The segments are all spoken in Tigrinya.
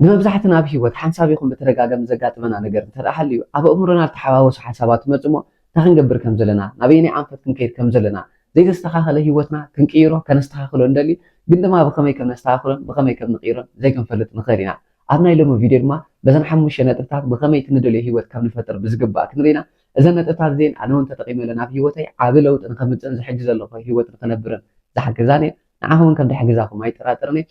ንመብዛሕትና ኣብ ህይወት ሓንሳብ ይኹን ብተደጋጋሚ ዘጋጥመና ነገር እንተድኣ ሃልዩ፣ ኣብ ኣእምሮና ዝተሓዋወሱ ሓሳባት ይመጹ'ሞ እንታይ ክንገብር ከም ዘለና፣ ናበየናይ ኣንፈት ክንከይድ ከም ዘለና፣ ዘይተስተኻኸለ ህይወትና ክንቅይሮ ከነስተኻኽሎ እንደሊ ግን ድማ ብኸመይ ከም ነስተኻኽሎን ብኸመይ ከም ንቕይሮን ዘይክንፈልጥ ንኽእል ኢና። ኣብ ናይ ሎሚ ቪድዮ ድማ በዘን ሓሙሽተ ነጥብታት ብኸመይ እቲ ንደልዮ ህይወት ከም ንፈጥር ብዝግባእ ክንርኢ ኢና። እዘን ነጥብታት እዚኤን ኣነ'ውን ተጠቒመለን ኣብ ህይወተይ ዓቢ ለውጢ ንኸምጽእን ዝሕጂ ዘለኹ ህይወት ንኽነብርን ዝሓገዛኒ እየን። ንዓኹም ውን ከም ድሕግዛኹም ኣይጠራጠርን እየ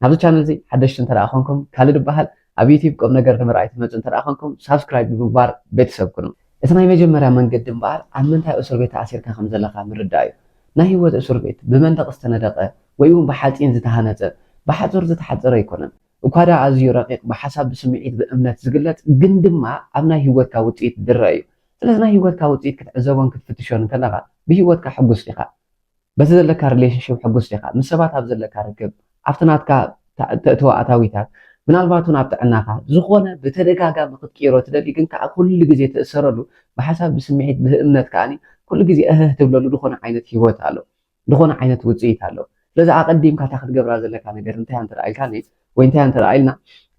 ኣብዚ ቻነል እዚ ሓደሽቲ እንተ ኮንኩም ካልድ ይበሃል ኣብ ዩቲብ ቁም ነገር ንምርኣይ ትመፁ እንተ ኮንኩም ሳብስክራይብ ብምግባር ቤተሰብ ኩኑ እቲናይ መጀመርያ መንገዲ እምበኣር ኣብ ምንታይ እሱርቤት ተኣሲርካ ከም ዘለኻ ምርዳእ እዩ ናይ ህይወት እሱርቤት ብመንደቕ ዝተነደቐ ወይ ውን ብሓፂን ዝተሃነፀ ብሓፁር ዝተሓፀረ ኣይኮነን እኳ ድኣ ኣዝዩ ረቒቕ ብሓሳብ ብስምዒት ብእምነት ዝግለፅ ግን ድማ ኣብ ናይ ህይወትካ ውፅኢት ዝረኣ እዩ ስለዚ ናይ ህይወትካ ውፅኢት ክትዕዘቦን ክትፍትሾን እንተለኻ ብህይወትካ ሕጉስ ዲኻ በቲ ዘለካ ሪሌሽንሽፕ ሕጉስ ዲኻ? ምስ ሰባት ኣብ ዘለካ ርክብ፣ ኣብቲ ናትካ ተእትዎ ኣታዊታት፣ ምናልባት እውን ኣብ ጥዕናኻ፣ ዝኾነ ብተደጋጋሚ ክትቅይሮ ትደሊ ግን ከኣ ኩሉ ግዜ ትእሰረሉ፣ ብሓሳብ ብስምዒት ብህእምነት ከኣ ኩሉ ግዜ እህህ ትብለሉ ዝኾነ ዓይነት ሂወት ኣሎ። ዝኾነ ዓይነት ውጽኢት ኣሎ። ስለዚ ኣቐዲምካ እታ ክትገብራ ዘለካ ነገር እንታይ እያ እንተ ኢልካኒ ወይ እንታይ እያ እንተ ኢልና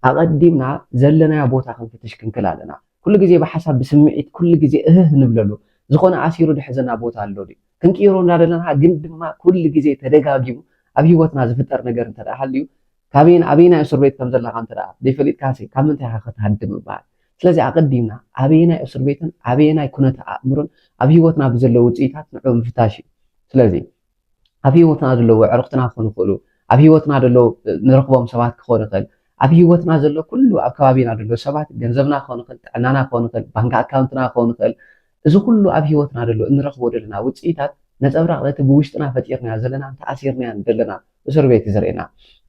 ኣቐዲምና ዘለናዮ ቦታ ክንፍትሽ ክንክል ኣለና። ኩሉ ግዜ ብሓሳብ ብስምዒት ኩሉ ግዜ እህህ ንብለሉ ዝኾነ ኣሲሩ ድሕዘና ቦታ ኣሎ ድዩ? ክንቅይሮ እናደለና ግን ድማ ኩሉ ግዜ ተደጋጊሙ ኣብ ሂወትና ዝፍጠር ነገር እንተ ሃልዩ ካበይን ኣበይናይ እስር ቤት ከም ዘለኻ እንተ ዘይፈሊጥካሲ ካብ ምንታይ ኢኻ ክትሃድም ይበሃል ስለዚ ኣቐዲምና ኣበየናይ እስር ቤትን ኣበየናይ ኩነተ ኣእምሮን ኣብ ሂወትና ብዘለ ውፅኢታት ንዑ ምፍታሽ እዩ ስለዚ ኣብ ሂወትና ዘለዉ ዕርኽትና ክኾኑ ይኽእሉ ኣብ ሂወትና ዘሎ ንረኽቦም ሰባት ክኾን ይኽእል ኣብ ሂወትና ዘሎ ኩሉ ኣብ ከባቢና ዘሎ ሰባት ገንዘብና ክኾን ይኽእል ጥዕናና ክኾን ይኽእል ባንኪ ኣካውንትና ክኾን ይኽእል እዚ ኩሉ ኣብ ሂወትና ደሎ እንረኽቦ ደለና ውጽኢታት ነጸብራቕ ነቲ ብውሽጥና ፈጢርናዮ ዘለናን ተኣሲርናዮን ደለናን እሱርቤት እዩ ዘርእየና።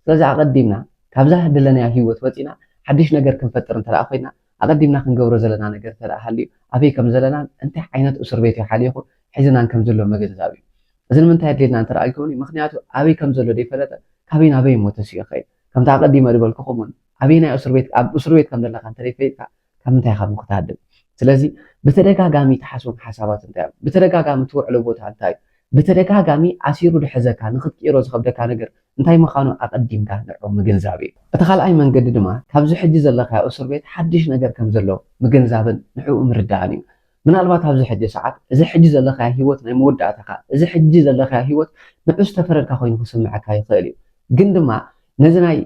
ስለዚ ኣቐዲምና ካብዛ ደለናያ ሂወት ወጺእና ሓድሽ ነገር ክንፈጥር እንተደኣ ኮይና ኣቐዲምና ክንገብሮ ዘለና ነገር እንተደኣ ሃልዩ ኣበይ ከምዘለናን እንታይ ዓይነት እሱርቤት እዩ ሓሊኹ ሒዝናን ከምዘሎ ምግንዛብ እዩ። እዚ ንምንታይ ኣድልየና እንተደኣ ኢልኩምኒ ምኽንያቱ ኣበይ ከምዘሎ ደይፈለጠ ካበይ ናበይ እሞ ተሲኡ ይኸይድ። ከምቲ ኣቐዲመ ድበልኩኹም እውን ኣበየናይ እሱርቤት ኣብ እሱርቤት ከምደለኻ እንተደይፈይጥካ ካብ ምንታይ ኢኻ እሞ ክትሃድም? ስለዚ ብተደጋጋሚ ትሓስቦም ሓሳባት እንታይ እዮም? ብተደጋጋሚ ትውዕሎ ቦታ እንታይ እዩ? ብተደጋጋሚ ኣሲሩ ዝሕዘካ ንኽትቅይሮ ዝኸብደካ ነገር እንታይ ምኻኑ ኣቐዲምካ ንዑ ምግንዛብ እዩ። እቲ ካልኣይ መንገዲ ድማ ካብዚ ሕጂ ዘለኻዮ እሱር ቤት ሓድሽ ነገር ከምዘሎ ምግንዛብን ንዕኡ ምርዳእን እዩ። ምናልባት ኣብዚ ሕጂ ሰዓት፣ እዚ ሕጂ ዘለኻዮ ህይወት ናይ መወዳእታኻ፣ እዚ ሕጂ ዘለኻዮ ህይወት ንዑ ዝተፈረድካ ኮይኑ ክስምዓካ ይኽእል እዩ። ግን ድማ ነዚ ናይ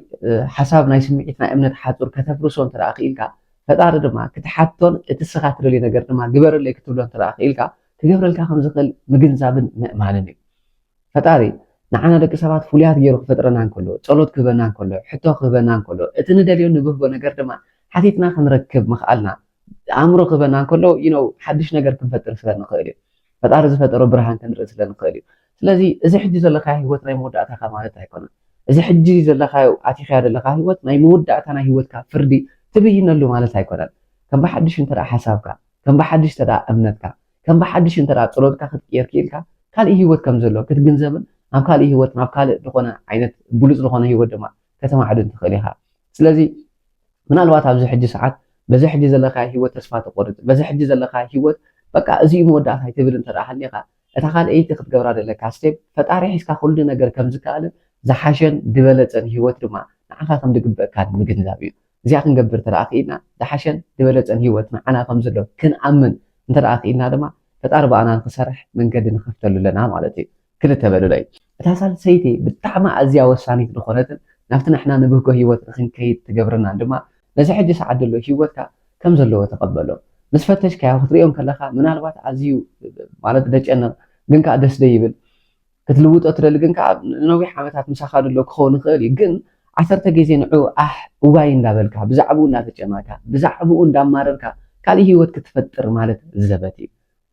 ሓሳብ፣ ናይ ስምዒት፣ ናይ እምነት ሓጹር ከተፍርሶ እንተ ደኣ ክኢልካ፣ ፈጣሪ ድማ ክትሓቶን እቲ እስኻ ትደልዮ ነገር ድማ ግበረለይ ክትብሎ እንተ ደኣ ክኢልካ፣ ክገብረልካ ከም ዝኽእል ምግንዛብን ምእማንን እዩ። ፈጣሪ ንዓና ደቂ ሰባት ፍሉያት ገይሩ ክፈጥረና እንከሎ፣ ጸሎት ክህበና እንከሎ፣ ሕቶ ክህበና እንከሎ፣ እቲ ንደልዮን ንብህጎ ነገር ድማ ሓቲትና ክንረክብ ምኽኣልና ኣእምሮ ክህበና እንከሎ ዩ ነው ሓድሽ ነገር ክንፈጥር ስለ ንኽእል እዩ ፈጣሪ ዝፈጠሮ ብርሃን ክንርኢ ስለ ንኽእል እዩ ስለዚ እዚ ሕጂ ዘለካዮ ህይወት ናይ መወዳእታካ ማለት ኣይኮነን እዚ ሕጂ ዘለካዮ ኣቲኻዮ ዘለካ ህይወት ናይ መወዳእታ ናይ ህይወትካ ፍርዲ ትብይነሉ ማለት ኣይኮነን ከም ብሓድሽ እንተ ሓሳብካ ከም ብሓድሽ እንተ እምነትካ ከም ብሓድሽ እንተ ፀሎትካ ክትቅየር ክኢልካ ካልእ ህይወት ከም ዘሎ ክትግንዘብን ናብ ካልእ ህይወት ናብ ካልእ ዝኾነ ዓይነት ብሉፅ ዝኾነ ህይወት ድማ ከተማዕድን ትኽእል ኢኻ ስለዚ ምናልባት ኣብዚ ሕጂ ሰዓት በዚ ሕጂ ዘለካ ህይወት ተስፋ ተቆርጽ በዚ ሕጂ ዘለካ ህይወት በቃ እዚ እዩ መወዳእታይ ትብል እንተ ሃሊኻ እታ ካልኣይቲ ክትገብራ ዘለካ ስቴፕ ፈጣሪ ሒዝካ ኩሉ ነገር ከም ዝከኣልን ዝሓሸን ዝበለጸን ህይወት ድማ ንዓኻ ከም ዝግበእካን ምግንዛብ እዩ እዚኣ ክንገብር እንተ ክኢልና ዝሓሸን ዝበለጸን ህይወት ንዓና ከም ዘሎ ክንኣምን እንተ ክኢልና ድማ ፈጣሪ ብኣና ንክሰርሕ መንገዲ ንኸፍተሉ ኣለና ማለት እዩ ክልተ በሉለይ። እታ ሳልሰይቲ ብጣዕሚ ኣዝያ ወሳኒት ዝኾነትን ናብቲ ንሕና ንብህጎ ህይወት ንኽንከይድ ትገብረናን ድማ ነዚ ሕጂ ሰዓት ዘሎ ህይወትካ ከም ዘለዎ ተቐበሎ። ምስ ፈተሽካዮ ክትርእዮ እንከለኻ ምናልባት ኣዝዩ ማለት ደጨንቕ ግን ከኣ ደስ ደይብል ክትልውጦ ትደሊ ግን ከኣ ንነዊሕ ዓመታት ምሳኻ ድሎ ክኸውን ይኽእል እዩ ግን ዓሰርተ ግዜ ንዑ ኣሕ እዋይ እንዳበልካ ብዛዕብኡ እንዳተጨነቕካ ብዛዕብኡ እንዳማረርካ ካልእ ህይወት ክትፈጥር ማለት ዘበት እዩ።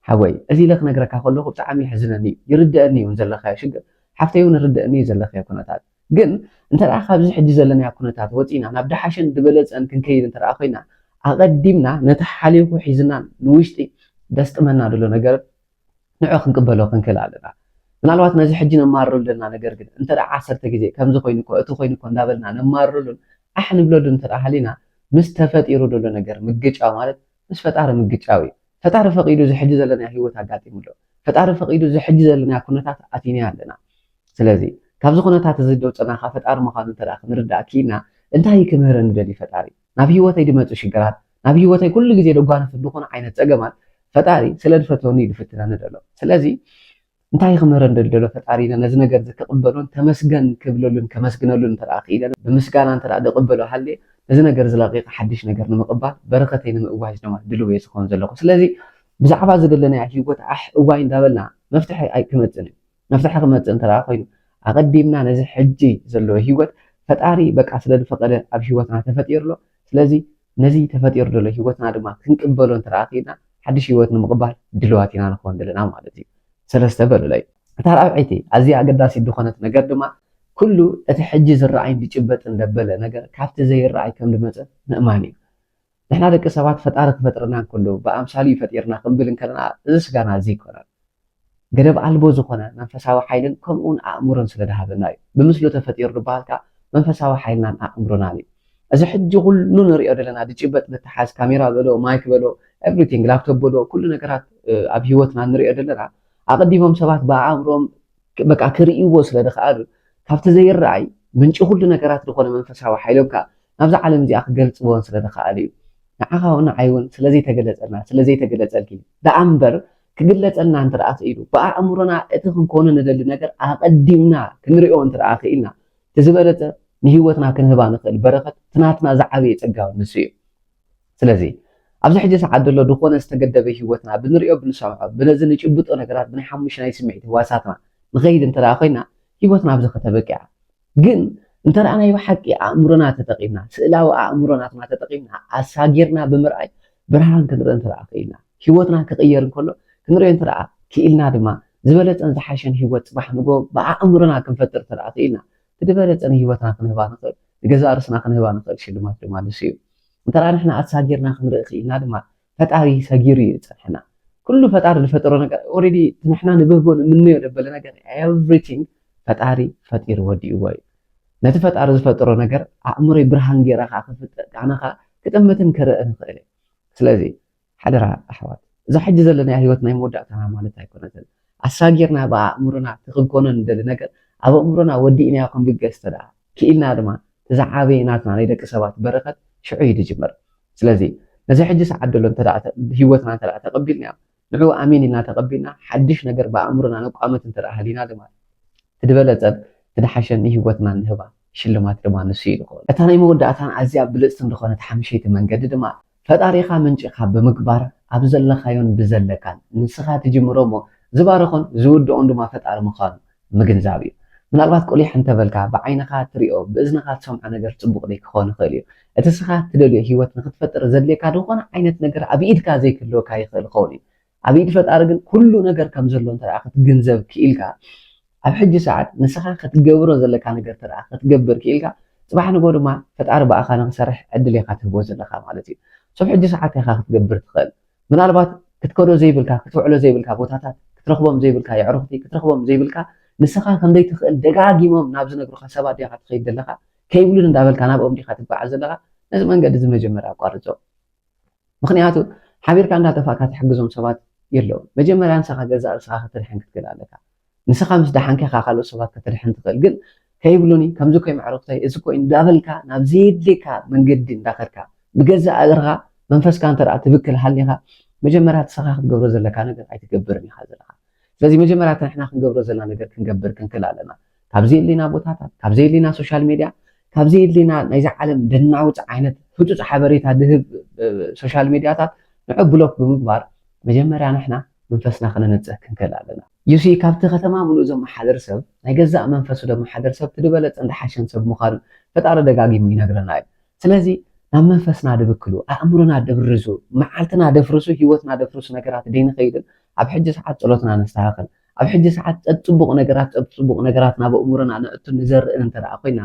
ሓወይ እዚ ኢለ ክነግረካ ከለኩ ብጣዕሚ የሕዝነኒ እዩ ይርደኣኒ እዩ ውን ዘለካዮ ሽግር ሓፍተይ ውን ይርደኣኒ እዩ ዘለክዮ ኩነታት ግን እንተ ካብዚ ሕጂ ዘለናዮ ኩነታት ወጺና ናብ ደሓሸን ድበለጸን ክንከይድ እንተ ኮይና ኣቀዲምና ነቲ ሓሊኩ ሒዝና ንውሽጢ ደስጥመና ድሎ ነገር ንዑ ክንቅበሎ ክንክእል ኣለና ምናልባት ነዚ ሕጂ ነማርረሉ ዘለና ነገር ግን እንተ ዓሰርተ ግዜ ከምዚ ኮይኑ እኮ እቲ ኮይኑ እኮ እንዳበልና ነማርረሉን ኣሕ ንብለሉን እንተ ሃሊና ምስ ተፈጢሩ ድሎ ነገር ምግጫው ማለት ምስ ፈጣሪ ምግጫው እዩ ፈጣሪ ፈቂዱ እዚ ሕጂ ዘለናዮ ሂወት ኣጋጢሙ ኣሎ ፈጣሪ ፈቂዱ እዚ ሕጂ ዘለናዮ ኩነታት ኣቲናዮ ኣለና ስለዚ ካብዚ ኩነታት እዚ ዘውጸና ከኣ ፈጣሪ ምዃኑ እንተ ክንርዳእ ኪኢልና እንታይ እዩ ክምህረኒ ደልዩ ፈጣሪ ናብ ሂወተይ ድመጹ ሽግራት ናብ ሂወተይ ኩሉ ግዜ ደጓንፍ ድኹን ዓይነት ጸገማት ፈጣሪ ስለ ድፈትወኒ እዩ ድፍትነኒ ደሎ ስለዚ እንታይ ክምህረኒ ደሎ ፈጣሪ ኢለ ነዚ ነገር እዚ ክቕበሎን ተመስገን ክብለሉን ከመስግነሉን እንተ ክኢለ ብምስጋና እንተ ድቕበሎ ሃልየ ነዚ ነገር እዚ ለቒቐ ሓድሽ ነገር ንምቕባል በረኸተይ ንምእዋጅ ድማ ድሉው እየ ዝኸውን ዘለኹ። ስለዚ ብዛዕባ ዝደለናያ ህይወት ዓሕ እዋይ እንዳበልና መፍትሒ ኣይክመጽእን እዩ። መፍትሒ ክመጽእ እንተ ኮይኑ ኣቐዲምና ነዚ ሕጂ ዘሎ ህይወት ፈጣሪ በቃ ስለ ዝፈቐደ ኣብ ህይወትና ተፈጢሩ ኣሎ ስለዚ ነዚ ተፈጢሩ ዘሎ ህይወትና ድማ ክንቅበሎ እንተ ደኣ ኪኢልና ሓድሽ ህይወት ንምቕባል ድልዋት ኢና ንኸውን ደለና ማለት እዩ። ሰለስተ በሉለይ። እታ ራብዐይቲ ኣዝያ ኣገዳሲት ድኾነት ነገር ድማ ኩሉ እቲ ሕጂ ዝረኣይን ድጭበጥን ደበለ ነገር ካብቲ ዘይረኣይ ከም ድመጸ ምእማን እዩ። ንሕና ደቂ ሰባት ፈጣሪ ክፈጥረና እንከሎ ብኣምሳሉ እዩ ፈጢርና ክንብል እንከለና እዚ ስጋና እዚ ኣይኮነን። ገደብ ኣልቦ ዝኾነ መንፈሳዊ ሓይልን ከምኡውን ኣእምሮን ስለ ድሃበና እዩ። ብምስሉ ተፈጢሩ ድበሃል ከኣ መንፈሳዊ ሓይልናን ኣእምሮናን እዩ። እዚ ሕጂ ኩሉ ንርእዮ ደለና ድጭበጥ ድተሓዝ ካሜራ በሎ ማይክ በሎ ኤቭሪቲንግ ላፕቶፕ በሎ ኩሉ ነገራት ኣብ ህይወትና ንርእዮ ደለና ኣቐዲሞም ሰባት ብኣእምሮኦም በቃ ክርእይዎ ስለ ድኸኣሉ ካብቲ ዘይረኣይ ምንጪ ኩሉ ነገራት ዝኾነ መንፈሳዊ ሓይሎም ከኣ ናብዛ ዓለም እዚኣ ክገልጽዎን ስለ ድኸኣሉ እዩ። ንዓኻ ውን ንዓይ ውን ስለ ዘይተገለጸልና ስለ ዘይተገለጸልኪ ደኣ እምበር ክግለጸልና እንተደኣ ክኢሉ፣ ብኣእምሮና እቲ ክንኮኖ ንደሊ ነገር ኣቐዲምና ክንርእዮ እንተደኣ ክኢልና፣ እቲ ዝበለጸ ንህይወትና ክንህባ ንኽእል በረኸት፣ እቲ ናትና ዝዓበየ ጸጋ ንሱ እዩ። ስለዚ፣ ኣብዚ ሕጂ ሰዓት ዘሎ ድኾነ ዝተገደበ ህይወትና፣ ብንርእዮ፣ ብንሰምዖ፣ ብነዚ ንጭብጦ ነገራት ብናይ ሓሙሽናይ ስምዒት ህዋሳትና ንኸይድ እንተደኣ ኮይና፣ ህይወትና ኣብዚ ከተበቅዕ እያ። ግን እንተ ናይ ብሓቂ ኣእምሮና ተጠቒምና፣ ስእላዊ ኣእምሮ ናትና ተጠቒምና ኣሳጊርና ብምርኣይ ብርሃን ክንርኢ እንተ ክኢልና፣ ህይወትና ክቕየር እንከሎ ክንርእዮ እንተ ክኢልና ድማ ዝበለጸን ዝሓሸን ህይወት ጽባሕ ንግሆ ብኣእምሮና ክንፈጥር እንተ ክኢልና እቲ ዝበለጸ ንህይወትና ክንህባ ንኽእል ንገዛእ ርእስና ክንህባ ንኽእል ሽልማት ድማ ንሱ እዩ። እንተ ንሕና ኣሳጊርና ክንርኢ ክኢልና ድማ ፈጣሪ ሰጊሩ እዩ ዝፀንሐና ኩሉ ፈጣሪ ዝፈጠሮ ነገር ኦልሬዲ ንሕና ንብህጎ ንምነዮ ዘበለ ነገር ኤቭሪቲንግ ፈጣሪ ፈጢሩ ወዲእዎ እዩ ነቲ ፈጣሪ ዝፈጠሮ ነገር ኣእምሮይ ብርሃን ገይረ ከዓ ክፍጥር ከዓ ንከዓ ክጥምትን ክርእን ይኽእል እዩ ስለዚ ሓደራ ኣሕዋት እዛ ሕጂ ዘለና ህይወት ናይ መወዳእታና ማለት ኣይኮነትን ኣሳጊርና ብኣእምሮና እቲ ክንኮኖ ንደሊ ነገር ኣብ ኣእምሮና ወዲእናዮ ክንብገስ ተደኣ ክኢልና ድማ እቲ ዝዓበየ ናትና ናይ ደቂ ሰባት በረከት ሽዑ እዩ ዝጅምር ስለዚ ነዚ ሕጂ ሰዓት ዘሎ እንተ ህይወትና እንተ ተቐቢልናዮ ንዑ ኣሜን ኢልና ተቐቢልና ሓድሽ ነገር ብኣእምሮና ነቋምት እንተ ሃሊና ድማ እቲ ዝበለጸን እቲ ድሓሸን ንህይወትና ንህባ ሽልማት ድማ ንሱ እዩ ዝኾን። እታ ናይ መወዳእታን ኣዝያ ብልጽትን ዝኾነት ሓምሸይቲ መንገዲ ድማ ፈጣሪኻ ምንጪኻ ብምግባር ኣብ ዘለኻዮን ብዘለካን ንስኻ ትጅምሮ እሞ ዝባርኾን ዝውድኦን ድማ ፈጣሪ ምዃኑ ምግንዛብ እዩ። ምናልባት ቁሊሕ እንተ በልካ፣ ብዓይንኻ ትሪኦ፣ ብእዝንኻ ትሰምዖ ነገር ጽቡቕ ደይ ክኸውን ይኽእል እዩ። እቲ እስኻ ትደልዮ ህይወት ንኽትፈጥር ዘድልየካ ድኾነ ዓይነት ነገር ኣብ ኢድካ ዘይክህልወካ ይኽእል ይኸውን እዩ። ኣብ ኢድ ፈጣሪ ግን ኩሉ ነገር ከም ዘሎ እንተ ደኣ ክትግንዘብ ክኢልካ፣ ኣብ ሕጂ ሰዓት ንስኻ ክትገብሮ ዘለካ ነገር እንተ ደኣ ክትገብር ክኢልካ፣ ጽባሕ ንግሆ ድማ ፈጣሪ ብኣኻ ንኽሰርሕ ዕድል ኢኻ ትህቦ ዘለኻ ማለት እዩ። ሶብ ሕጂ ሰዓት ኢኻ ክትገብር ትኽእል። ምናልባት ክትከዶ ዘይብልካ፣ ክትውዕሎ ዘይብልካ ቦታታት፣ ክትረኽቦም ዘይብልካ የዕሩኽቲ፣ ክትረኽቦም ዘይብልካ ንስኻ ከም ዘይትኽእል ደጋጊሞም ናብ ዝነግሩኻ ሰባት ዲኻ ትኸይድ ዘለኻ? ከይብሉኒ እንዳበልካ ናብኦም ዲኻ ትጓዓዝ ዘለኻ? ነዚ መንገዲ እዚ መጀመርያ ኣቋርጾ። ምኽንያቱ ሓቢርካ እንዳጠፋእካ ትሕግዞም ሰባት የለዉን። መጀመርያ ንሰኻ ገዛእ ርእስኻ ክትድሕን ክትክእል ኣለካ። ንስኻ ምስ ደሓንካ ኢኻ ካልኦት ሰባት ከተድሕን ትኽእል ግን ከይብሉኒ ከምዚ ኮይ መዕርፍተይ እዚ ኮይ እንዳበልካ ናብ ዘየድልየካ መንገዲ እንዳኸድካ ብገዛእ እግርኻ መንፈስካ እንተ ትብክል ሃሊኻ መጀመርያ ንስኻ ክትገብሮ ዘለካ ነገር ኣይትገብርን ኢኻ ዘለኻ ስለዚ መጀመርያ እቲ ንሕና ክንገብሮ ዘለና ነገር ክንገብር ክንክል ኣለና ካብ ዘየድልየና ቦታታት ካብ ዘየድልየና ሶሻል ሜድያ ካብ ዘየድልየና ናይዚ ዓለም ደናውፅ ዓይነት ህፁፅ ሓበሬታ ድህብ ሶሻል ሜድያታት ንዑ ብሎክ ብምግባር መጀመርያ ንሕና መንፈስና ከነንጽህ ክንክእል ኣለና። You see ካብቲ ከተማ ምሉእ ዘመሓድር ሰብ ናይ ገዛእ መንፈሱ ደመሓድር ሰብ እቲ ድበለጸን ድሓሸን ሰብ ምዃኑ ፈጣሪ ደጋጊሙ ይነግረና እዩ። ስለዚ ናብ መንፈስና ድብክሉ፣ ኣእምሮና ድብርዙ፣ መዓልትና ደፍርሱ፣ ህይወትና ደፍርሱ ነገራት ደይንኸይድን ኣብ ሕጂ ሰዓት ጸሎትና ነስተኻኽል። ኣብ ሕጂ ሰዓት ጸጽቡቕ ነገራት ጸብጽቡቕ ነገራት ናብ ኣእምሮና ነእቱን ንዘርእን እንተደኣ ኮይና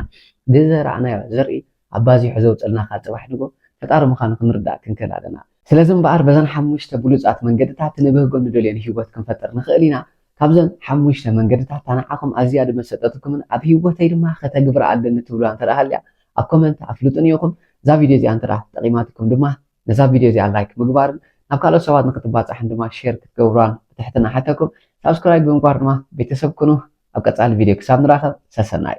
ድዘራእናዮ ዘርኢ ኣባዚሑ ዘውጽልና ከኣ ጽባሕ ንግሆ ፈጣሪ ምኻኑ ክንርዳእ ክንክእል ኣለና። ስለዚ እምበኣር በዘን ሓሙሽተ ብሉጻት መንገድታት ንብህጎን ንደልዮን ሂወት ክንፈጥር ንኽእል ኢና። ካብዘን ሓሙሽተ መንገድታት እታ ንዓኹም ኣዝያ ድመሰጠትኩምን ኣብ ሂወተይ ድማ ከተግብራ ኣለኒ ትብልዋ እንተ ሃልያ ኣብ ኮመንት ኣፍልጡኒ ኢኹም። እዛ ቪድዮ እዚኣ እንተ ጠቒማትኩም ድማ ነዛ ቪድዮ እዚኣ ላይክ ምግባርን ናብ ካልኦት ሰባት ንኽትባጻሕን ድማ ሼር ክትገብርዋን ብትሕትና እሓተኩም። ሳብስክራይብ ብምግባር ድማ ቤተሰብ ኩኑ። ኣብ ቀጻሊ ቪድዮ ክሳብ ንራኸብ ሰሰናዩ።